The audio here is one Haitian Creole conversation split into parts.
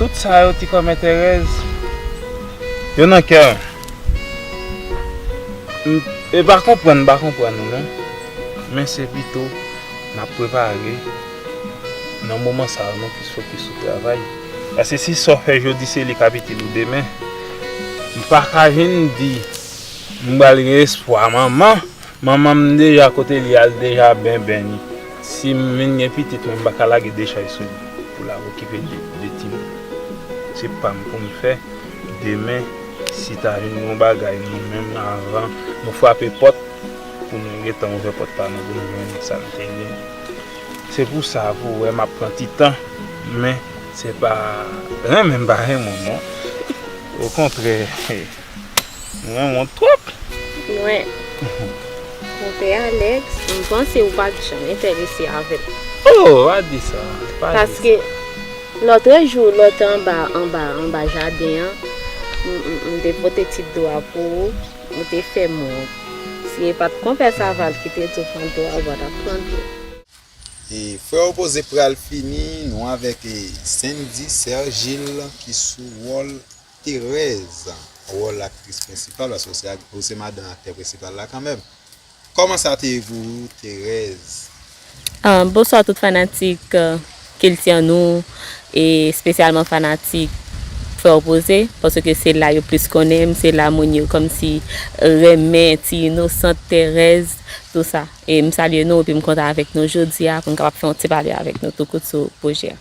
Tout sa yo ti kòmè Tèrèz. Yo nan kè m. M e pa konprann m pa konprann ou non. Men se pito m ap prepare nan moman sa yo nou plis fokis sou travay. Paske si sa w fè jodi se li k ap itil ou demen. M pa ka vin di m pral gen espwa manman Manman m deja kote li al deja ben ben li si m vin gen pitit mwen m pa ka lage dechay sou li pou la okipe de timoun se pa m pou m fè demen si ta vin gon bagay nou menm avan nou frape pòt pou nou gentan ouvè pòt pa nou pou nou jwenn sa n te gen se pou sa pou wè m ap pran ti tan men se pa renmen m pa renmen w non okontrè. Mwen wont twop. Mwen. Konpè Alex, m panse ou pat janm entèrese avè m. Oh! Pa di sa. Pa di sa. Paske, lòtre jou lè w te anba, anba, anba jaden an, m te pote ti dlo a pou ou, ou te fè m wont. Si e pat Konpè Saval ki te di w pran dlo a, ou pa tap pran dlo. E frè opoze pral fini, nou avèk Sendy, Sè Gilles ki sou wòl Terèz wòl aktris prensipal paske ou se ak ou se madan aktè prensipal la kanmèm kòman sa te ye pou ou Terèz? Bonswa tout fanatik kiltian nou e spesyalman fanatik frè opoze paske se la yo plis konnen m se la moun yo kòmsi renmen ti inosant Terèz tou sa e m salye nou epi m kontan avèk nou jodia pou n kapab fè yon ti pale avèk nou tou kout sou pwojè a.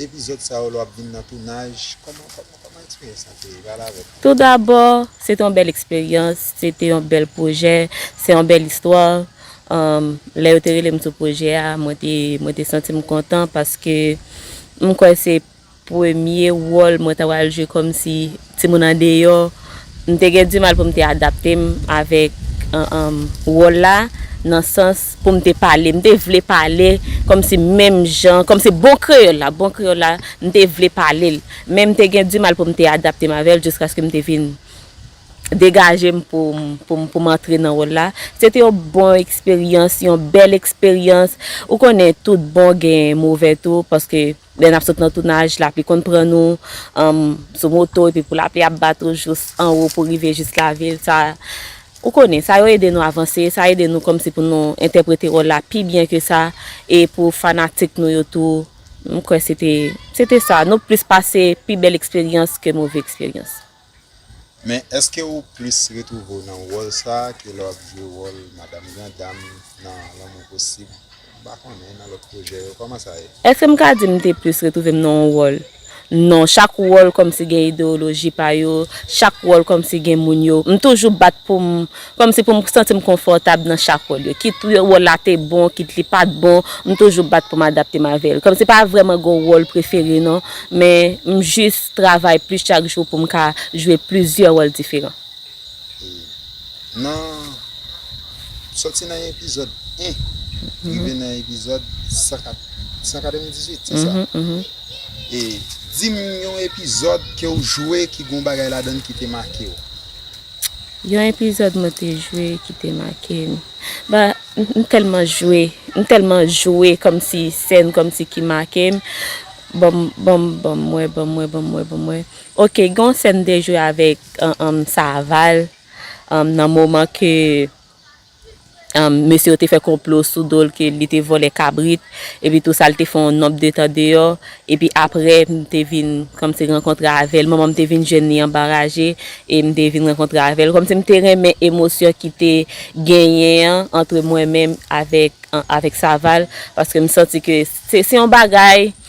Epizod sa yo lè wap vin nan tounaj koman koman koman experience lan te ye pale avem. Tou dabò se te yon bèl eksperyans, se te yon bèl pwojè, se yon bèl istwa, lè yo te rele m sou pwojè a mwen te mwen te santi m kontan paske m kwè se premye wòl mwen ta pral jwe kòmsi Timoun andeyò, m te gen dimal pou m te adapte m avèk wòl la nan sans pou m te pale. M te vle pale kòmsi menm jan, kòmsi bon kreyòl la, bon kreyòl la, m te vle pale l. Men m te gen dimal pou m te adapte m avè l jiskaske m te vin degaje m pou m antre nan wòl la. Se te yon bon eksperyans, yon bèl eksperyans. Ou konnen tout bon gen move tou paske. Lè nap sot nan tounaj lapli konn pran nou sou moto epi pou lapli ap bat ou jous anwo pou rive jous lavil sa ou konnen sa yo ede nou avanse sa ede nou kòmsi pou nou entèprete wòl la pi byen ke sa e pou fanatik nou yo tou m kwè se te se te sa nou plis pase pi bèl eksperyans ke move eksperyans. Men, èske ou plis retwouve w nan wòl sa a ke lè w ap jwe wòl madam grandam nan Lanmou Posib, m pa konnen, nan lòt pwojè yo? Kòman sa ye? Èske m ka di m te plis retwouve m nan yon wòl? Non. Chak wòl kòmsi gen ideyoloji pa yo, chak wòl kòmsi gen moun yo. M toujou bat pou m. Kòmsi pou m santi m konfòtab nan chak wòl yo. Kit wòl la te bon, kit li pa t bon, m toujou bat pou m adapte m avè l. Kòmsi pa vrèman gen yon wòl prefere non, men m jis travay plis chak jou pou m ka jwe plizyè wòl diferan. E nan Soti nan epizòd 1 rive nan epizòd 198, se sa? E di m yon epizòd ke w jwe ki gen yon bagay ladan l ki te make w. Yon epizòd mwen te jwe ki te make m. Ba, m tèlman jwe, m tèlman jwe kòmsi sèn kòmsi ki make m. Bon, bon, bon m wè, bon m wè, bon m wè, bon m wè. Ok, gen yon sèn m te jwe avèk Saval nan moman ke. Mesye yo te fè konplo sou do l ke li te vòlè kabrit, epi tou sa l te fè yon nonb de tan deyò, epi aprè m te vin kòmnse rankontre avè l, manman m te vin jwenn li anba raje, e m te vin rankontre avè l, kòmnse m te renmen emosyon ki te genyen an antre mwen menm avèk avèk Saval, paske m santi ke se se yon bagay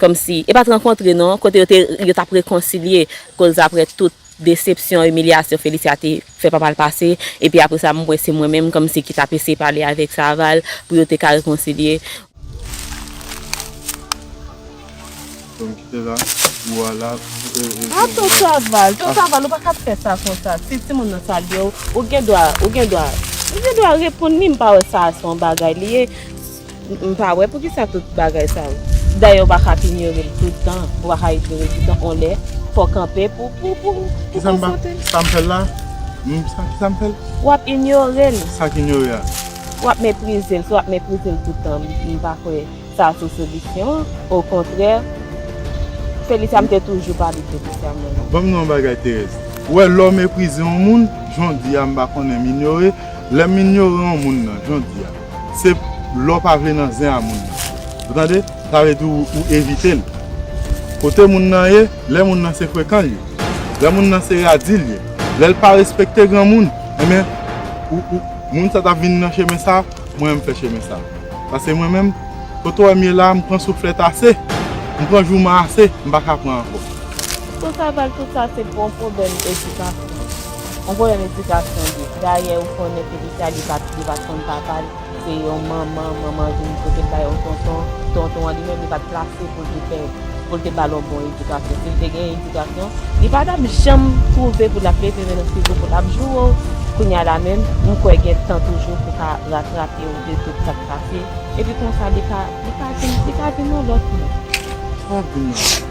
Kòmsi, e pa t rankontre non, kote yo te, yo t ap rekonsilye, koz aprè tout desepsyon, imilyasyon Félicia te fè papa l pase, epi aprè sa m wè se mwen menm, kòmsi, ki t ap eseye pale avèk Saval, pou yo te ka rekonsilye. Ton ki te la, ou a la, e, e. A ton Saval, ton Saval, ou pa ka fè sa konsa, si timoun nan salye w, ou gen dwa, ou gen dwa, ou gen dwa reponn li, m pa wè sa a se yon bagay li ye. M pa wè poukisa tout bagay sa yo. Dayè ou pa ka ap inyore l tout tan, ou pa ka ignore tout tan on lè fò w kanpe pou pou pou konfwonte l. Sa m fè l la? M sa kisa m fè l? W ap inyore l. Sa k inyore a? W ap meprize l. Si w ap meprize l tout tan, m pa kwè sa se solisyon an. Okontrè, Felicia m te toujou pale Felicia mwen an. Ban m yon bagay Thérèse, ou wè lè w meprize on moun, jan w di a m pa konnen m inyore, lè m inyore on moun nan, jan w di a. Se lè w pa vle nan zen a moun nan. Ou tande? Sa vle di ou evite l. Kote moun nan ye, lè moun nan se frekan l ye, lè moun nan se radi l ye, lè l pa respekte granmoun, enben moun sa t ap vin nan chemen sa, mwen menm m fè chemen sa. Pase mwen menm, kote w wè m ye la a, m pran souflèt ase, m pran jouman ase, m pa ka pran ankò. Sou sa Val tout sa se bon pwoblèm edikasyon. Yon pwoblèm edikasyon tou. Dayè ou konnen ke Itali pa t li pa t konn papa l, se yon manman, manman an vin pote l bay yon tonton, tonton an li menm li pa t plase pou l te fè pou l te ba l yon bon edikasyon. Si l te gen edikasyon, li pa t ap janm twouve pou l ap leve men l figo pou l ap joure w. Kounye a la menm, m kwè gen tan toujou pou w ka ratrape w de tout sa k pase, epi konsa li ka li ka vin li ka vin yon lòt moun. Trè byen.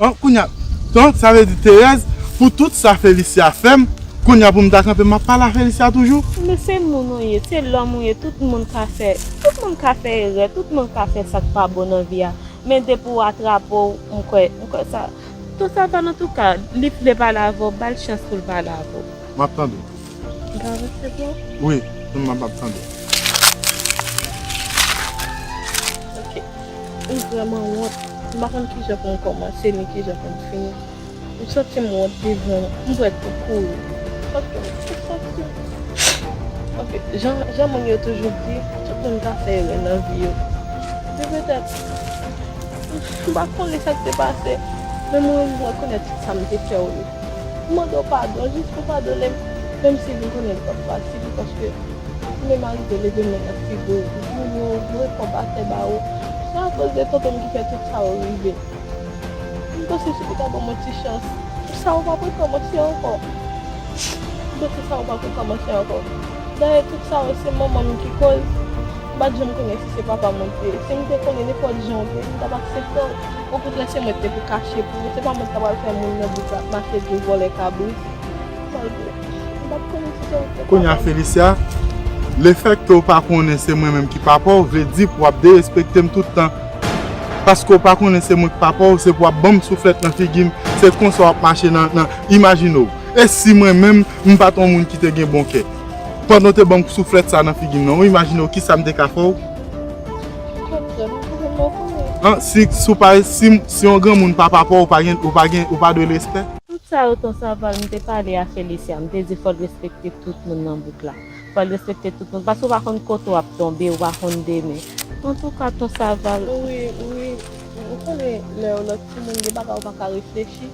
An kounya donc sa vle di Thérèse pou tout sa Félicia fèm kounya poum ta kanpe map pale a Félicia toujou? Men se moun ou ye, se lòm ou ye tout moun ka fè, tout moun ka fè erè, tout moun ka fè sak pa bon nan vi a men depi ou atrape w m kwè, m kwè sa, tout sa pa nan touka, li vle pale avè w bal chans pou l pale avè w. Map tande w. Wi, m ap ap tande. Ok, m vreman wont. M pa konn kijan pou m komanse ni kijan pou m fini. M santi m wont devan ou. M prèt pou kouri. Paske m santi m. Ok, jan moun yo toujou di, tout moun ka fè erè nan vi yo. Se petèt. M pa konnen sa k te pase. Men mwen rekonèt tout sa m te fè w yo. M mande w padon jis pou w padone m menm si m konnen li p ap fasil paske si menm arive leve men nan figo w ou joure w m reponn pa fè bawo se akoz de tonton m ki fè tout sa yo rive m panse si li ta ban mwen ti chans sa yo pa p rekòmanse ankò m panse sa yo pa p rekòmanse ankò dayè tout sa yo se manman m ki koz m pa t janm konnen si se papa m ou t ye si m te konnen nenpòt jan w t ye m t ap aksepte w. Okontrè se mwen ki te pou kache pou ou, se pa mwen ki ta pral fè moun nan di sa, mache di ou vòlè kabrit. Malgre, m pa t konnen si se ou ki te Kounye a papa m. Felisya, lefèt ke ou pa konnen se mwen menm ki papa ou vle di pou w ap derespekte m tout tan. Paske ou pa konnen se mwen ki papa ou, se pou w ap ban m souflèt nan figi m, se konsa w ap mache nan, nan, imajine w, e si mwen menm, m pa t yon moun ki te gen bon kè, pandan w te ban m souflèt sa a nan figi m nan, ou imajine w kisa m te ka fè w? An si si w pa si si yon granmoun pa papa w ou pa gen ou pa gen ou pa dwe l respè? Tout sa yo ton saval m te pale a Felicia m te di fòl respekte tout moun nan bouk la fòl respekte tout moun paske ou pa konn kote wap tonbe ou pa konn demen antouka ton saval. Wi wi ou konnen lè yo lòt timoun gen bagay ou paka reflechi.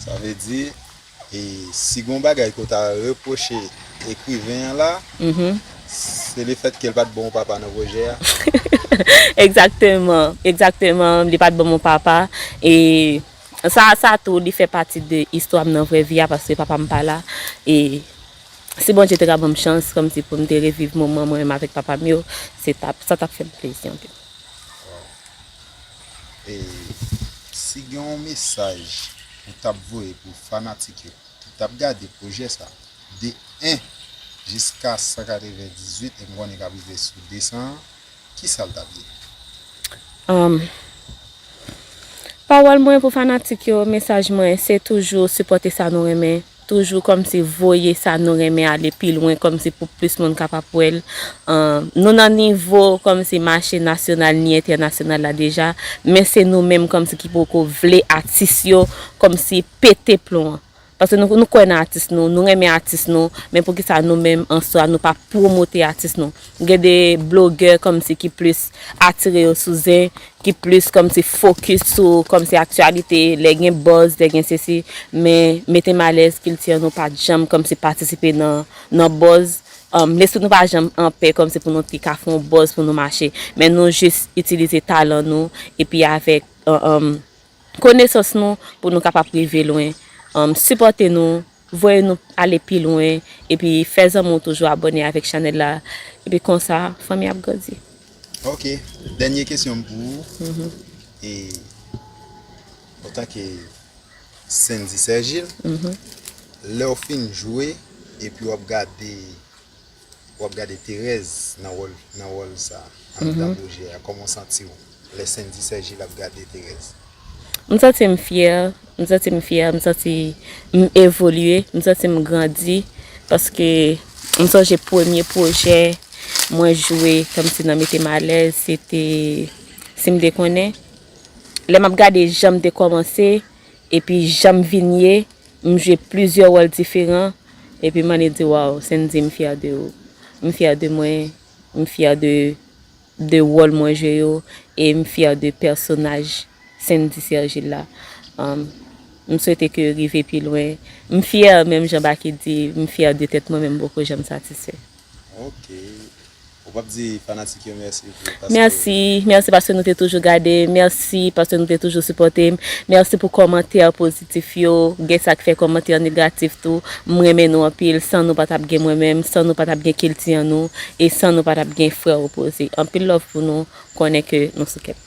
Sa vle di, si gen yon bagay ke w ta repwoche ekriven an la, se le fèt ke l pa t ban w papa nan pwojè a? Egzakteman, egzakteman, li pa t ban m yon papa. E sa a, sa a tou, li fè pati de istwa m nan vrè vi a, paske papa m pa la. E si Bondye te ka ban m chans, kòmsi pou m te reviv moman mwen menm avèk papa m yo, sa t ap fè m plezi anpil. Si gen yon mesaj ou tap voye pou fanatik yo ki tap gade pwojè sa de 1 jiska 198 e m konnen kap rive sou 200 an kisa l tap ye? Humm pawòl mwen pou fanatik yo mesaj mwen se toujou sipòte sa nou renmen Toujou kòmsi voye sa nou renmen ale pi lwen kòmsi pou plis moun kapab wè l. Nou nan nivo kòmsi mache nasyonal ni entènasyonal la deja men se nou menm kòmsi ki poko vle atis yo kòmsi pete plon an. Paske nou kwè nan atis nou, nou renmen atis nou men poukisa nou menm an swa nou pa pwomote atis nou. Gen de blogè kòmsi ki plis atire yo sou zen, ki plis kòmsi fokis sou kòmsi aktyalite, lè gen buzz, lè gen sesi, men mete m alèz kilti an nou pa janm kòmsi patisipe nan buzz, lespri nou pa janm anpè kòmsi pou nou te ka fè yon buzz pou nou mache, men nou jis itilize talan nou epi avèk Konesans nou pou nou kapab rive lwen Sipòte nou Voye nou ale pi lwen Epi fè zanmi w toujou abòne avèk chanèl la Epi konsa fanmi ap grandi Ok dènye kesyon m pou ou E Otanke Sendy Sergil Lèw fin jwe Epi wap gade Wap gade terèz nan wòl nan wòl sa andan pwojè a kòman w santiw lè sendy sergil ap gade terèz. M santi m fyè, m santi m fyè, m santi m evolye, m santi m grandi paske m sonje premye pwojè mwen jwe kòmsi nan mete m alèz se te sim dekonnen lè map gade janm te kòmanse Epi janm vin ye, m jwe plizyè wòl diferan, epi m annik di waww Sendy m fyè de ou, m fyè de mwen, m fyè de de wòl mwen jwe yo, e m fyè de pèsonaj Sendy Sergil la. M swete ke rive pi lwen. M fyè menm jan Baky di, m fyè de tèt mwen men m poko janm satisfè. Ok ou pap di fanatik yo merci pou paske. Merci merci paske nou te toujou gade m merci paske nou te toujou sipòte m merci pou kòmantè pozitif yo gen sak fè kòmantè negatif tou m renmen nou anpil san nou pa tap gen mwen menm san nou pa tap gen kilti an nou e san nou pa tap gen frè opoze anpil love pou nou konnen ke nou sou kèm.